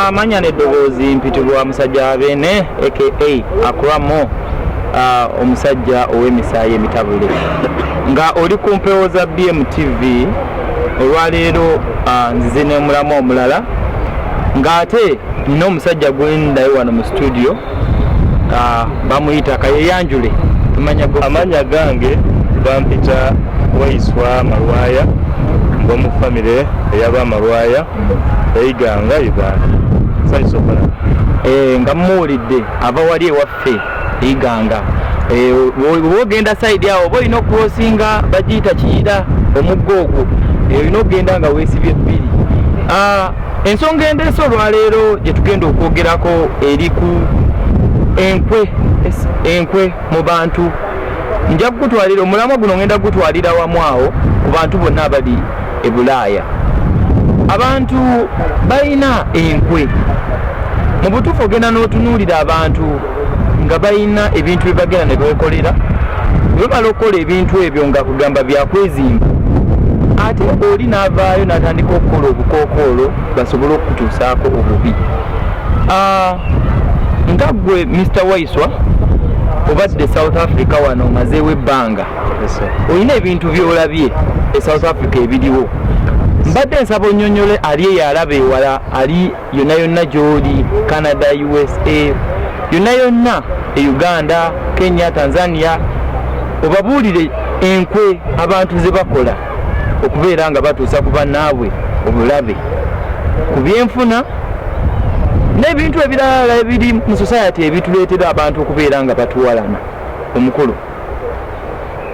amanya neddoboozi mpitibwa musajja abene aka akuramo omusajja ow'emisaayi emitabule nga oli ku mpewo za bmtv olwaleero nzize nemulamu omulala ng'ate nina omusajja gwendayo wano mu situdio ah, bamuyita kayeyanjule amanya gange bampita waiswa malwaya ngomu famire eyaba amalwaya eyiganga uganda saisobola eh, nga muwulidde ava wali ewaffe iganga eh, wogenda saidi awo oba olina okurosinga bagiyita kiyira omugga ogwo eh, olina okugenda nga wesibye ebbiri ah, ensonga endeese olwaleero gye tugenda okwogerako eri ku enkwe enkwe mu bantu nja kugutwalira omulamwa guno ngenda kugutwalira wamu awo ku bantu bonna abali e bulaaya abantu balina enkwe mu butuufu ogenda n'otunuulira abantu nga balina ebintu bye bagenda ne beekolera bwe bamala okukola ebintu ebyo nga kugamba byakwezimba ate oli n'avaayo n'atandika okukola obukookoolo basobole okukutuusaako obubi ah, nga gwe mr waiswa obadde south africa wano omazeewo ebbanga olina ebintu byolabye e south africa ebiriwo mbadde nsaba onyonyole ali eyalaba ewala ali yonna yonna gy'oli canada usa yonna yonna e uganda kenya tanzania obabuulire enkwe abantu ze bakola okubeera nga batuusa ku bannaabwe obulabe ku byenfuna n'ebintu ebiralala ebiri mu society ebituleetera abantu okubeera nga batuwalana omukulu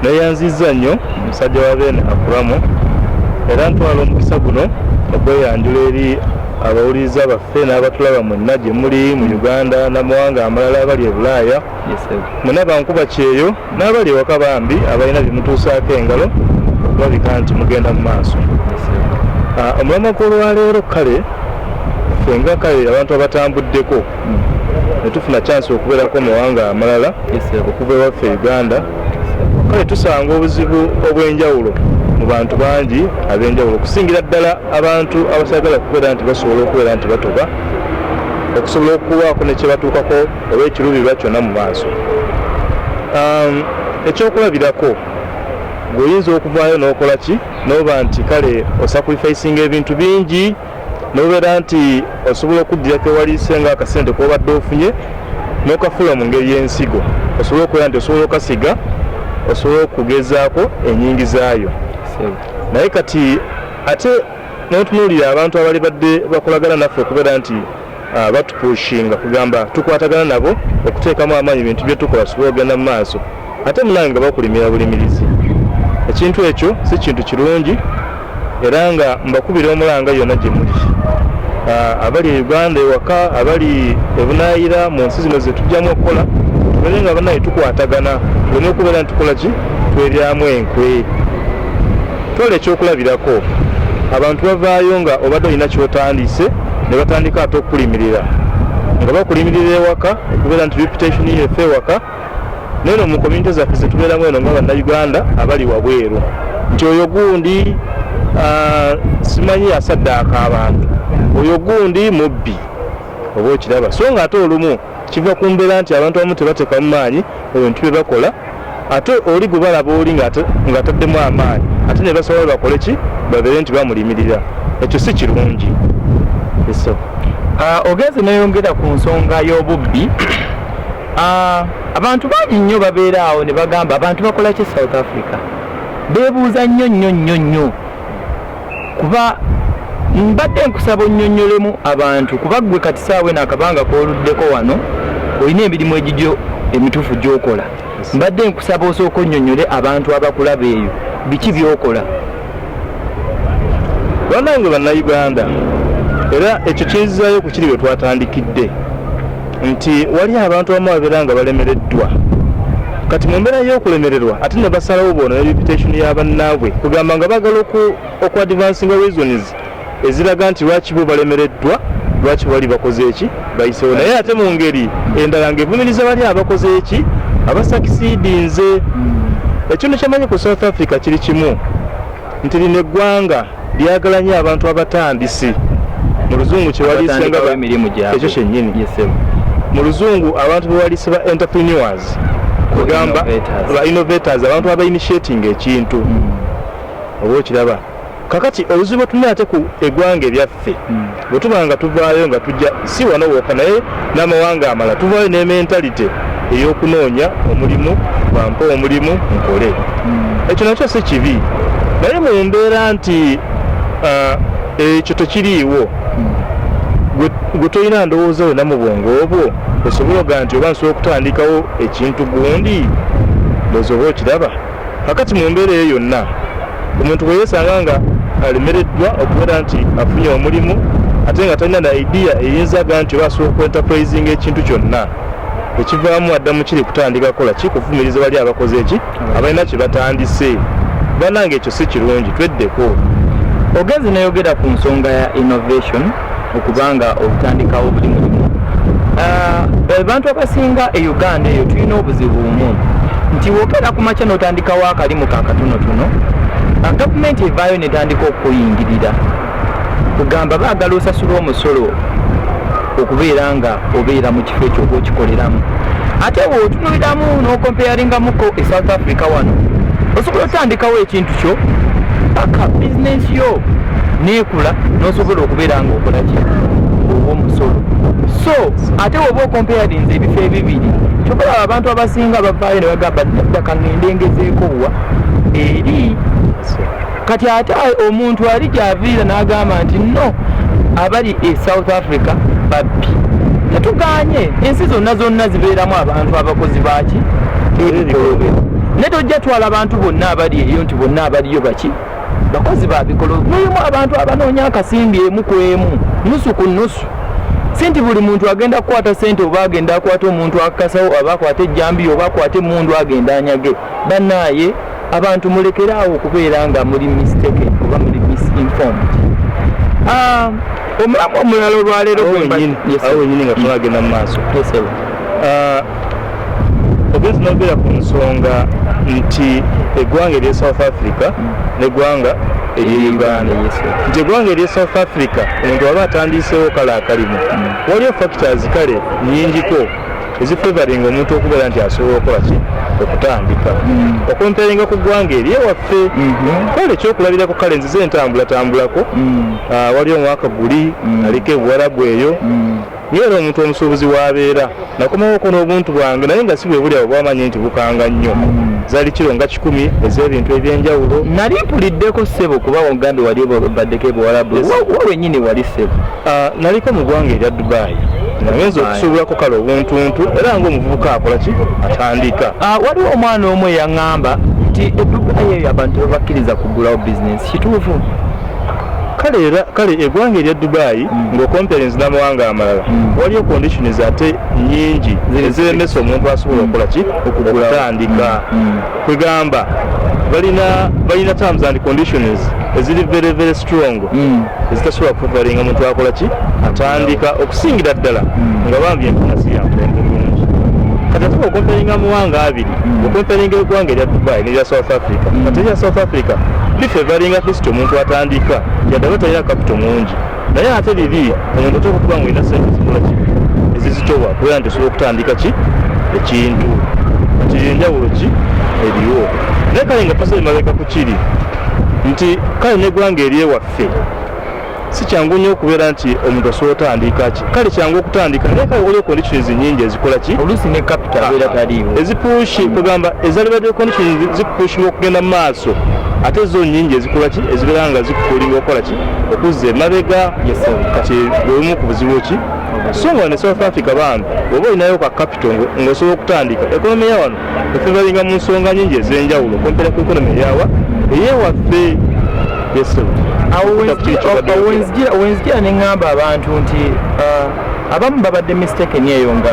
Neyanzizza nnyo musajja wa Ben Akuramo era ntwala omukisa guno okweyanjula eri abawuliriza baffe n'abatulaba mwenna gye muli mu Uganda n'amawanga amalala abali e Bulaaya mwena bankuba kyeyo n'abali ewaka bambi abalina bye mutuusaako engalo okulabika nti mugenda mu maaso ah, omulamwa gw'olwaleero kale fenga kale abantu abatambuddeko netufuna chance okubeerako mumawanga amalala okuva ewaffe uganda kale tusanga obuzibu obwenjawulo mu bantu bangi abenjawulo okusingira ddala abantu abasagala kubeera nti basobola okubeera nti batoba okusobola okuwaako nekyebatuukako oba ekirubirirwa kyonna mu maaso um, ekyokulabirako gweoyinza okuvaayo nokola ki noba nti kale osakrifaisinga ebintu bingi nobeera nti osobola okuddira kewaliise nga akasente kobadde ofunye nokafula mu ngeri y'ensigo osobola okubeera nti osobola okasiga osobola okugezaako enyingizaayo naye kati ate notunuulira abantu abali badde bakolagana naffe okubeera nti Ah, batupushinga kugamba tukwatagana nabo okuteekamu amaanyi bintu byetukola tusobole ogenda mu maaso ate munange nga bakulimira bulimirizi ekintu ekyo si kintu kirungi era nga mbakubira omulanga yonna gye muli ah, abali e uganda ewaka abali ebunaayira mu nsi zino zetujjamu okukola tubere nga banaye tukwatagana oleme okubeera nitukola ki tweryamu enkwe Twala ekyokulabirako, abantu bavaayo nga obadde olina ky'otandiise ne batandika ate okukulimirira nga bakulimirira ewaka okubeera nti reputation yo efe ewaka naye no mu community zaffe zetubeeramu eno nga bannayuganda abali wabweru nti oyo gundi ah, simanyi asaddaaka abantu oyo gundi mubbi oba okiraba so nga ate olumu Kiva ku mbeera nti abantu abamu tebateekamu maanyi mu bintu bye bakola ate oli gwe balaba oli ng'ataddemu amaanyi ate ne basaba bakole ki babeere nti bamulimirira ekyo si kirungi. Ah, ogenze neyongera ku nsonga y'obubbi ah, abantu bangi nnyo babeera awo ne bagamba abantu bakola ki south africa beebuuza nnyo nnyo nnyo nnyo kuba mbadde nkusaba onnyonnyolemu abantu kuba ggwe kati saawa eno akabanga kooluddeko wano olina emirimu egigyo emituufu gy'okola mbadde nkusaba osooka onnyonnyole abantu abakulaba eyo biki by'okola banange bannayuganda era ekyo kinzizayo ku kiri bwe twatandikidde nti wali abantu abamu babeera nga balemereddwa kati mu mbeera y'okulemererwa ate ne basalawo boona ne reputation ya bannaabwe kugamba nga bagala oku advancinga reasons eziraga nti lwaki bo balemereddwa lwaki bali bakoze eki bayisewo naye ate mu ngeri endala ng'evumiriza bali abakoze eki abasakisidinze hmm. ekintu kyemanyi ku south africa kiri kimu nti lino eggwanga Byagala nnyo abantu abatandisi mu luzungu kyewaliise nga emirimu gyabwe ekyo kyennyini mu luzungu abantu bewaliise ba entrepreneurs kugamba ba innovators abantu aba initiating ekintu hmm. oba okiraba kakati obuzibu bwe tulina ate ku egwanga ebyaffe hmm. bwe tuba nga tuvaayo nga tujja si wano wooka naye n'amawanga amala tuvaayo ne mentalite ey'okunoonya omulimu bampe omulimu nkole hmm. ekyo nakyo si kibi naye mu mbeera nti ah, ekyo tekiriiwo hmm. gwe tolina ndowooza yona mu bwongo obwo osobola oga nti oba nsobola okutandikawo ekintu gundi bwezoba okiraba Kakati mu mbeera eyo yonna omuntu bwe yeesanga nga alemereddwa okubeera nti afunye omulimu ate nga talina na idiya eyinzaga nti oba asobola okuentapurayizinga ekintu kyonna ekivaamu adda mu kiri kutandika kukola kikuvumiriza bali abakoze eki abalina kye batandise banange ekyo si kirungi tweddeko ogenze neyogera ku nsonga ya innovation okuba nga olutandikawo buli mulimu ah, abantu abasinga e uganda eyo tulina obuzibu bumu nti wokera ku makya n'otandikawo akalimu ka katonotono ah, gavumenti evaayo netandika okukuyingirira kugamba baagala osasulwa omusolo okubeera nga obeera mu kifo ekyo oba okikoleramu ate bwotunuliramu nokompeyaringamuko e south africa wano osobola otandikawo ekintu kyo paka bizinensi yo nekula nosobola okubeera nga okolaki owomusolo so ate woba okompeyarinze ebifo ebibiri kyokulaba abantu abasinga bavaayo nebagamba ddaka ngendengezeekowa eri kati ate omuntu ali gyaviira n'agamba nti no abali e south africa babbi tetuganye ensi zonna zonna zibeeramu abantu abakozi baaki ebikolobero naye tojja twala bantu bonna abali eyo nti bonna abaliyo baki bakozi babikolo mulimu abantu abanoonya akasimbi emu ku emu nusu ku nusu si nti buli muntu agenda kukwata sente oba agenda akwata omuntu akakasawo oba akwata ejjambiya oba akwata emundu agenda anyage banaaye abantu mulekere awo okubeera nga muli mistake oba muli misinformed ah, omulamu omulala olwaleero awo wenyini nga tunagenda mu maaso ah, ogenzi nogera ku nsonga nti eggwanga erye south africa mm. neggwanga eri uganda nti eggwanga eri south africa omuntu waba atandiisewo kale akalimu mm. waliyo factors kale nyingiko ezifevaringa omuntu okubeera nti asobola okukola ki okutambika mm. okomperinga ku ggwanga eri ewaffe mm-hmm. kale ekyokulabirako kale nzize entambulatambulako mm. ah, waliwo omwaka guli mm. aliko ebuwarabu eyo naye era omuntu omusuubuzi waabeera nakomawo okona obuntu bwange naye nga si bwe buli abo bwamanya nti bukanga nnyo zali kiro nga kikumi ez'ebintu ebyenjawulo nali mpuliddeko ssebo kuba ogambye wali baddeko ebuwarabu wenyini wali ssebo ah, naliko mu ggwanga erya dubayi ayinza okusuubirako kale obuntuntu era ngaomuvubuka akola ki atandika ah, waliwo omwana omu eyaŋŋamba nti edduka yeyo abantu tebabakkiriza kugulawo bizinesi kituufu kale era kale egwanga erya dubai mm. nga okomperensi namawanga amalala mm. waliyo conditions ate nyingi eziremesa omuntu asobola mm. okukola ki okutandika kwegamba balina balina terms and conditions eziri very very strong mm. ezitasobola kuvalinga muntu akola ki atandika okusingira ddala mm. nga bambi enfuna siyampembe bulungi kati atuba okomparinga muwanga abiri mm. okomparinga egwanga erya dubai nerya south africa kati erya south africa lifevalinga kristo omuntu atandika yadde aba talina kapito mungi naye ate bibi omuntu oteeka okuba nga olina sente zikola ki ezizitowa kubeera nti osobola okutandika ki ekintu nti enjawulo ki eriwo naye kale nga tusa emabega ku kiri nti kale negwanga eri ewaffe si kyangu nnyo okubeera nti omuntu asobola otandika ki kale kyangu okutandika naye kale waliwo conditions nyingi ezikola ki oluusi ne capital beera ah, taliiwo ezipushi kugamba ezalibadde conditions zikupushibwa okugenda mu maaso ate zo nyingi ezikola ki ezibeera nga zikukuliwa okola ki okuzza emabega kati bwebumu ku buzibu ki so nga ne south africa bambi oba olinayo ka kapito ngaosobola okutandika ekonomi ya wano efevalinga mu nsonga nyingi ez'enjawulo kompera ku ekonomi eyawa eyewaffe wenzijira ne ŋŋamba abantu nti uh, abamu babadde mistaken eyo nga